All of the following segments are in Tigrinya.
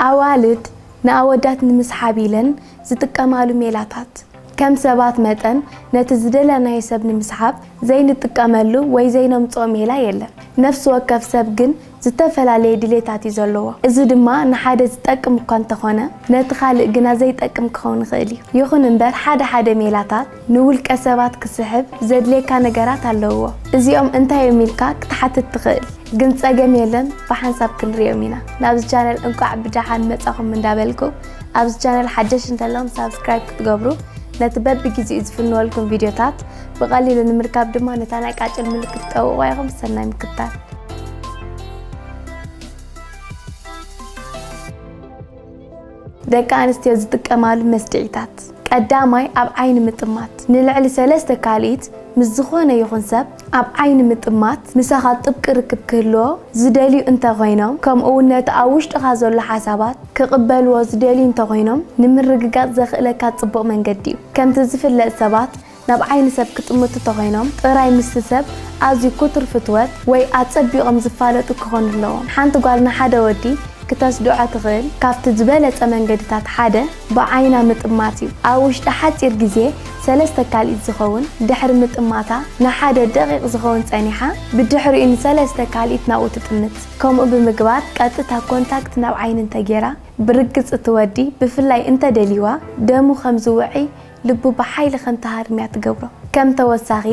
ኣዋልድ ንኣወዳት ንምስሓብ ኢለን ዝጥቀማሉ ሜላታት። ከም ሰባት መጠን ነቲ ዝደለናዮ ሰብ ንምስሓብ ዘይንጥቀመሉ ወይ ዘይነምጽኦ ሜላ የለን። ነፍሲ ወከፍ ሰብ ግን ዝተፈላለየ ድሌታት እዩ ዘለዎ። እዚ ድማ ንሓደ ዝጠቅም እኳ እንተኾነ ነቲ ካልእ ግና ዘይጠቅም ክኸውን ይኽእል እዩ። ይኹን እምበር ሓደ ሓደ ሜላታት። ንውልቀ ሰባት ክስሕብ ዘድልየካ ነገራት ኣለውዎ እዚኦም እንታይ እዮም ኢልካ ክትሓትት ትኽእል ግን ጸገም የለን ብሓንሳብ ክንርእዮም ኢና ናብዚ ቻነል እንቋዕ ብደሓን መጻኹም እንዳበልኩ ኣብዚ ቻነል ሓደሽ እንተለኹም ሳብስክራይብ ክትገብሩ ነቲ በብጊዜኡ ዝፍንወልኩም ቪድዮታት ብቐሊሉ ንምርካብ ድማ ነታ ናይ ቃጭል ምልክት ጠውቑዋ ኢኹም ሰናይ ምክታል ደቂ ኣንስትዮ ዝጥቀማሉ መስድዒታት፣ ቀዳማይ ኣብ ዓይኒ ምጥማት፣ ንልዕሊ ሰለስተ ካልኢት ምስ ዝኾነ ይኹን ሰብ ኣብ ዓይኒ ምጥማት፣ ምሳኻ ጥብቂ ርክብ ክህልዎ ዝደልዩ እንተኾይኖም ከምኡ'ውን ነቲ ኣብ ውሽጥኻ ዘሎ ሓሳባት ክቕበልዎ ዝደልዩ እንተኾይኖም ንምርግጋጽ ዘኽእለካ ጽቡቕ መንገዲ'ዩ። ከምቲ ዝፍለጥ ሰባት ናብ ዓይኒ ሰብ ክጥምቱ ተኾይኖም ጥራይ ምስቲ ሰብ ኣዝዩ ኩቱር ፍትወት ወይ ኣጸቢቖም ዝፋለጡ ክኾኑ ኣለዎም። ሓንቲ ጓል ንሓደ ወዲ ክተስድዖ ትኽእል ካብቲ ዝበለጸ መንገድታት ሓደ ብዓይና ምጥማት እዩ። ኣብ ውሽጢ ሓጺር ግዜ ሰለስተ ካልኢት ዝኸውን ድሕሪ ምጥማታ ንሓደ ደቒቕ ዝኸውን ጸኒሓ ብድሕሪኡ ንሰለስተ ካልኢት ናብኡ ትጥምት። ከምኡ ብምግባር ቀጥታ ኮንታክት ናብ ዓይኒ እንተጌራ ብርግጽ እቲ ወዲ ብፍላይ እንተደልይዋ ደሙ ከም ዝውዕይ ልቡ ብሓይሊ ከም ትሃርም እያ ትገብሮ። ከም ተወሳኺ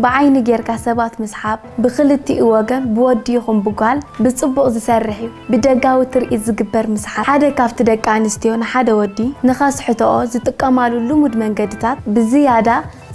ብዓይኒ ጌርካ ሰባት ምስሓብ ብኽልቲኡ ወገን ብወዲ ይኹን ብጓል ብጽቡቕ ዝሰርሕ እዩ። ብደጋዊ ትርኢት ዝግበር ምስሓብ ሓደ ካብቲ ደቂ ኣንስትዮ ንሓደ ወዲ ንኸስሕትኦ ዝጥቀማሉ ልሙድ መንገድታት ብዝያዳ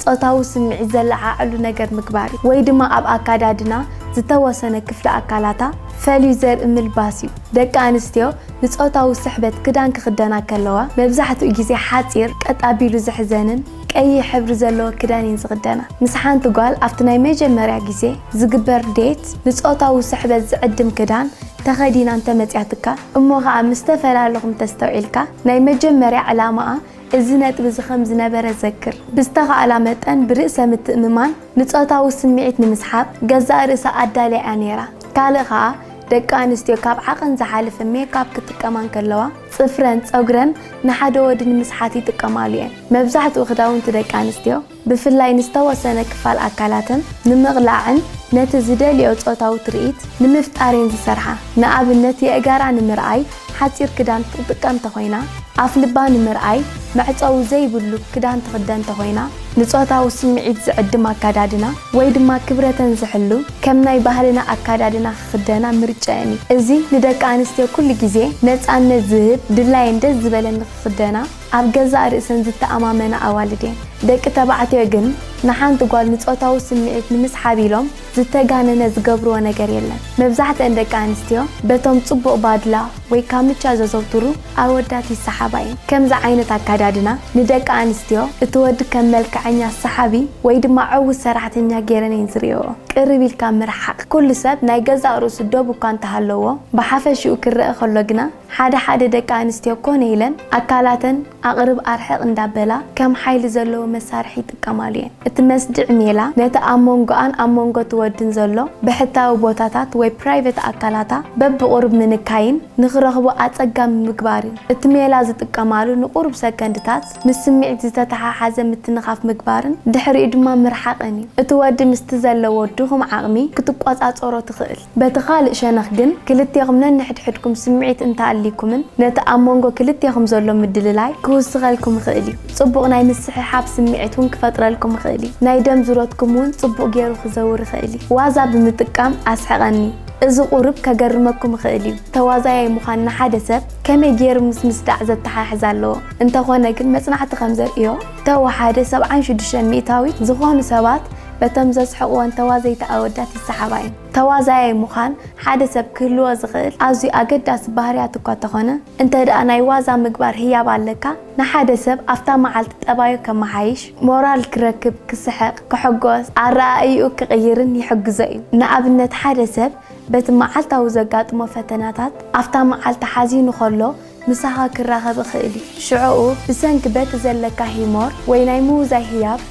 ጾታዊ ስምዒት ዘለዓዕሉ ነገር ምግባር እዩ። ወይ ድማ ኣብ ኣካዳድና ዝተወሰነ ክፍሊ ኣካላታ ፈልዩ ዘርኢ ምልባስ እዩ። ደቂ ኣንስትዮ ንጾታዊ ስሕበት ክዳን ክኽደና ከለዋ መብዛሕትኡ ግዜ ሓጺር፣ ቀጥ ኣቢሉ ዝሕዘንን ቀይሕ ሕብሪ ዘለዎ ክዳን እየን ዝኽደና። ምስ ሓንቲ ጓል ኣብቲ ናይ መጀመርያ ግዜ ዝግበር ዴት ንጾታዊ ስሕበት ዝዕድም ክዳን ተኸዲና እንተመጽያትካ እሞ ከኣ ምስ ተፈላለኹም እንተስተውዒልካ ናይ መጀመርያ ዕላማኣ እዚ ነጥቢ እዚ ከም ዝነበረ ዘክር። ብዝተኻእላ መጠን ብርእሰ ምትእምማን ንጾታዊ ስምዒት ንምስሓብ ገዛእ ርእሳ ኣዳልያ እያ ነይራ። ካልእ ከኣ ደቂ ኣንስትዮ ካብ ዓቐን ዝሓለፈ ሜክኣፕ ክጥቀማ እንከለዋ ጽፍረን ጸጉረን ንሓደ ወዲ ንምስሓት ይጥቀማሉ እየን። መብዛሕትኡ ክዳውንቲ ደቂ ኣንስትዮ ብፍላይ ንዝተወሰነ ክፋል ኣካላተን ንምቕላዕን ነቲ ዝደልይኦ ጾታዊ ትርኢት ንምፍጣር እየን ዝሰርሓ። ንኣብነት የእጋራ ንምርኣይ፣ ሓጺር ክዳን ትጥቀም ተኾይና፣ ኣፍልባ ንምርኣይ መዕጸዊ ዘይብሉ ክዳን ትኽደን ተኾይና፣ ንጾታዊ ስምዒት ዝዕድም ኣከዳድና ወይ ድማ ክብረተን ዝሕሉ ከም ናይ ባህልና ኣከዳድና ክኽደና ምርጭኤን እዩ። እዚ ንደቂ ኣንስትዮ ኩሉ ግዜ ነጻነት ዝህብ፣ ድላየን ደስ ዝበለን ንክኽደና ኣብ ገዛእ ርእሰን ዝተኣማመና ኣዋልድ እየን። ደቂ ተባዕትዮ ግን ንሓንቲ ጓል ንጾታዊ ስምዒት ንምስሓብ ኢሎም፣ ዝተጋነነ ዝገብርዎ ነገር የለን። መብዛሕትኣን ደቂ ኣንስትዮ በቶም ጽቡቕ ባድላ ወይ ካምቻ ዘዘውትሩ ኣወዳት ይሰሓባ እየን። ከምዚ ዓይነት ኣከዳድና ንደቂ ኣንስትዮ እቲ ወዲ ከም መልከዐኛ ሰሓቢ ወይ ድማ ዕዉት ሰራሕተኛ ገይረን እየን ዝርእይኦ። ቅርብ ኢልካ ምርሓቕ። ኩሉ ሰብ ናይ ገዛእ ርእሱ ዶብ እኳ እንተሃለዎ ብሓፈሽኡ ክረኣ ከሎ ግና ሓደ ሓደ ደቂ ኣንስትዮ ኮነ ኢለን ኣካላተን፣ ኣቕርብ ኣርሕቕ እንዳበላ ከም ሓይሊ ዘለዎ መሳርሒ ይጥቀማሉ እየን። እቲ መስድዒ ሜላ ነቲ ኣብ መንጎኣን ኣብ መንጎ እቲ ወድን ዘሎ ብሕታዊ ቦታታት ወይ ፕራይቨት ኣካላታ በብቑሩብ ምንካይን ንኽረኽቦ ኣጸጋሚ ምግባር እዩ። እቲ ሜላ ዝጥቀማሉ ንቑሩብ ሰከንድታት ምስ ስምዒት ዝተተሓሓዘ ምትንኻፍ ምግባርን ድሕሪኡ ድማ ምርሓቕን እዩ። እቲ ወዲ ምስቲ ዘለዎ ድኹም ዓቕሚ ክትቆጻጸሮ ትኽእል። በቲ ኻልእ ሸነኽ ግን፣ ክልቴኹም ነንሕድሕድኩም ስምዒት እንተ ኣልይኩምን፣ ነቲ ኣብ መንጎ ክልቴኹም ዘሎ ምድልላይ ክውስኸልኩም ይኽእል እዩ። ጽቡቕ ናይ ምስሕሓብ ስምዒት እውን ክፈጥረልኩም ይኽእል እዩ። ናይ ደም ዙረትኩም እውን ጽቡቕ ገይሩ ክዘውር ይኽእል እዩ። ዋዛ ብምጥቃም ኣስሕቐኒ። እዚ ቁሩብ ከገርመኩም ይኽእል እዩ። ተዋዛያይ ምዃን ንሓደ ሰብ ከመይ ገይሩ ምስ ምስዳዕ ዘተሓሕዝ ኣለዎ? እንተኾነ ግን መጽናዕቲ ከም ዘርእዮ፣ ተወሓደ ሰብዓን ሽዱሽተን ሚእታዊት ዝኾኑ ሰባት በቶም ዘስሕቕወን ተዋዘይቲ ኣወዳት ይሰሓባ እየን። ተዋዛያይ ምዃን ሓደ ሰብ ክህልዎ ዝኽእል ኣዝዩ ኣገዳሲ ባህርያት እኳ እንተኾነ፣ እንተድኣ ናይ ዋዛ ምግባር ህያብ ኣለካ፣ ንሓደ ሰብ ኣብታ መዓልቲ ጠባዩ ከመሓይሽ፣ ሞራል ክረክብ፣ ክስሕቕ፣ ክሕጎስ፣ ኣረኣእይኡ ክቕይርን ይሕግዞ እዩ። ንኣብነት ሓደ ሰብ በቲ መዓልታዊ ዘጋጥሞ ፈተናታት፣ ኣብታ መዓልቲ ሓዚኑ ከሎ፣ ምሳኻ ክራኸብ እኽእል እዩ። ሽዕኡ ብሰንኪ በቲ ዘለካ ሂሞር ወይ ናይ ምውዛይ ህያብ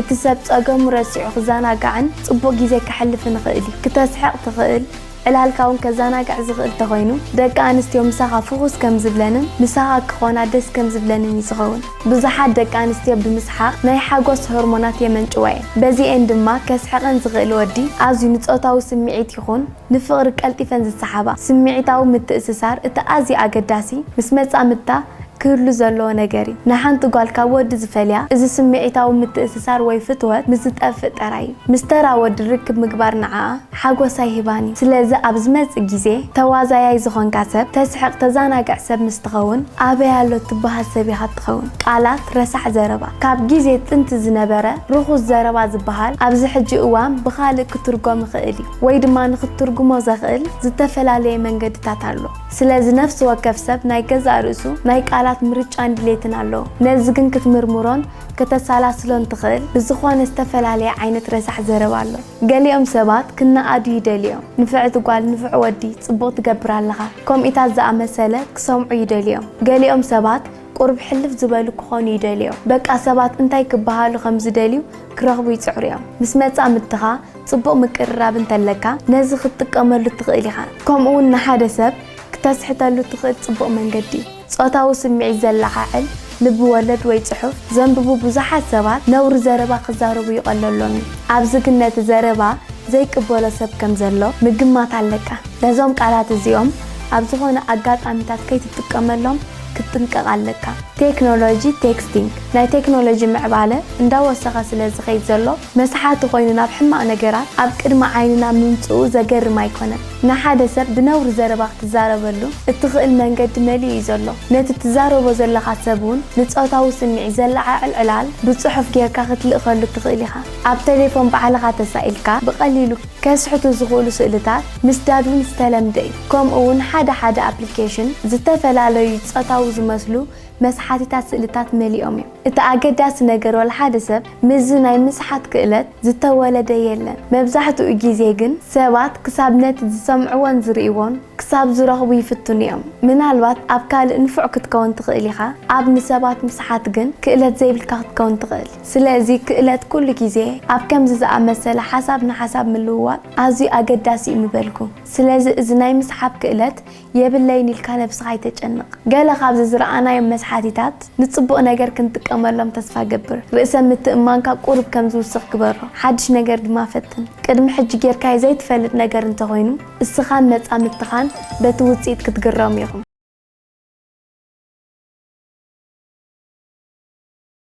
እቲ ሰብ ጸገሙ ረሲዑ ክዛናጋዕን ጽቡቕ ግዜ ከሕልፍን እኽእል እዩ። ክተስሕቕ ትኽእል፣ ዕላልካ እውን ከዛናግዕ ዝኽእል ተኾይኑ ደቂ ኣንስትዮ ምሳኻ ፍኹስ ከም ዝብለንን ምሳኻ ክኾና ደስ ከም ዝብለንን እዩ ዝኸውን። ብዙሓት ደቂ ኣንስትዮ ብምስሓቕ ናይ ሓጎስ ሆርሞናት የመንጭዋ እየን። በዚኤን ድማ ከስሕቐን ዝኽእል ወዲ ኣዝዩ ንጾታዊ ስምዒት ይኹን፣ ንፍቕሪ ቀልጢፈን ዝሰሓባ፣ ስምዒታዊ ምትእስሳር እቲ ኣዝዩ ኣገዳሲ፣ ምስ መጻምድታ ክህሉ ዘለዎ ነገር እዩ። ንሓንቲ ጓል ካብ ወዲ ዝፈልያ፣ እዚ ስምዒታዊ ምትእስሳር ወይ ፍትወት ምስ ዝጠፍእ ጥራይ እዩ። ምስ ተራ ወዲ ርክብ ምግባር ንዓኣ ሓጎስ ኣይህባን እዩ። ስለዚ ኣብ ዝመጽእ ግዜ፣ ተዋዛያይ ዝኾንካ ሰብ፣ ተስሕቕ ተዛናግዕ ሰብ ምስ ትኸውን፣ ኣበይ ኣሎ ትበሃል ሰብ ኢኻ እትኸውን። ቃላት ረሳሕ ዘረባ፣ ካብ ግዜ ጥንቲ ዝነበረ ርኹስ ዘረባ ዝበሃል፣ ኣብዚ ሕጂ እዋን ብኻልእ ክትርጎም ይኽእል እዩ። ወይ ድማ ንኽትትርጉሞ ዘኽእል ዝተፈላለየ መንገድታት ኣሎ። ስለዚ ነፍሲ ወከፍ ሰብ ናይ ገዛእ ርእሱ ናይ ቃላት ምርጫን ድሌትን ኣለዎ። ነዚ ግን ክትምርምሮን ከተሳላስሎን ትኽእል ብዝኾነ ዝተፈላለየ ዓይነት ረሳሕ ዘረባ ኣሎ። ገሊኦም ሰባት ክነኣዱ ይደልዩ እዮም። ንፍዕቲ ጓል፣ ንፉዕ ወዲ፣ ጽቡቕ ትገብር ኣለኻ፣ ከምኡታት ዝኣመሰለ ክሰምዑ ይደልዩ እዮም። ገሊኦም ሰባት፣ ቁሩብ ሕልፍ ዝበሉ ክኾኑ ይደልዮ። በቃ ሰባት እንታይ ክበሃሉ ከም ዝደልዩ ክረኽቡ ይጽዕሩ እዮም። ምስ መጻምድትኻ ጽቡቕ ምቅርራብ እንተለካ ነዚ ክትጥቀመሉ ትኽእል ኢኻ። ከምኡ'ውን ንሓደ ሰብ ክተስሕተሉ እትኽእል ጽቡቕ መንገዲ እዩ። ጾታዊ ስምዒት ዘለዓዕል ልብ ወለድ ወይ ጽሑፍ ዘንብቡ ብዙሓት ሰባት ነውሪ ዘረባ ክዛረቡ ይቐለሎም እዩ። ኣብዚ ግን ነቲ ዘረባ ዘይቅበሎ ሰብ ከም ዘሎ ምግማት ኣለካ። ነዞም ቃላት እዚኦም ኣብ ዝኾነ ኣጋጣሚታት ከይትጥቀመሎም። ክትጥንቀቕ ኣለካ። ቴክኖሎጂ ቴክስቲንግ ናይ ቴክኖሎጂ ምዕባለ እንዳወሰኸ ስለ ዝኸይድ ዘሎ መስሓቲ ኮይኑ ናብ ሕማቕ ነገራት ኣብ ቅድሚ ዓይንና ምምጽኡ ዘገርም ኣይኮነን። ንሓደ ሰብ ብነውሪ ዘረባ ክትዛረበሉ እትኽእል መንገዲ መሊኡ እዩ ዘሎ። ነቲ እትዛረቦ ዘለኻ ሰብ'ውን ንጾታዊ ስምዒት ዘለዓዕል ዕላል ብጽሑፍ ጌርካ ክትልእከሉ እትኽእል ኢኻ። ኣብ ተሌፎን ባዕልኻ ተሳኢልካ ብቐሊሉ። ከስሕቱ ዝኽእሉ ስእልታት ምስዳድ እውን ዝተለምደ እዩ፣ ከምኡ እውን ሓደ ሓደ ኣፕሊኬሽን ዝተፈላለዩ ጾታዊ ዝመስሉ መስሓቲታት ስእልታት መሊኦም እዮም። እቲ ኣገዳሲ ነገር ዋላ ሓደ ሰብ ምስዚ ናይ ምስሓት ክእለት ዝተወለደ የለን፣ መብዛሕትኡ ግዜ ግን ሰባት ክሳብ ነቲ ዝሰምዕዎን ዝርእይዎን ክሳብ ዝረኽቡ ይፍትኑ እዮም። ምናልባት ኣብ ካልእ ንፉዕ ክትከውን ትኽእል ኢኻ፣ ኣብ ንሰባት ምስሓት ግን ክእለት ዘይብልካ ክትከውን ትኽእል። ስለዚ ክእለት ኩሉ ግዜ ኣብ ከምዚ ዝኣመሰለ ሓሳብ ንሓሳብ ምልውዋጥ ኣዝዩ ኣገዳሲ እዩ ምበልኩ። ስለዚ እዚ ናይ ምስሓብ ክእለት የብለይን ኢልካ ነብስኻ ኣይተጨንቕ። ገለ ካብዚ ዝረኣናዮም መስሓቲታት ንጽቡቕ ነገር ክንጥቀመሎም ተስፋ እገብር። ርእሰ ምትእምማንካ ቁሩብ ከም ዝውስኽ ግበሮ። ሓድሽ ነገር ድማ ፈትን። ቅድሚ ሕጂ ጌርካዮ ዘይትፈልጥ ነገር እንተ ኾይኑ እስኻን መጻምድትኻን በቲ ውጽኢት ክትግረሙ ኢኹም።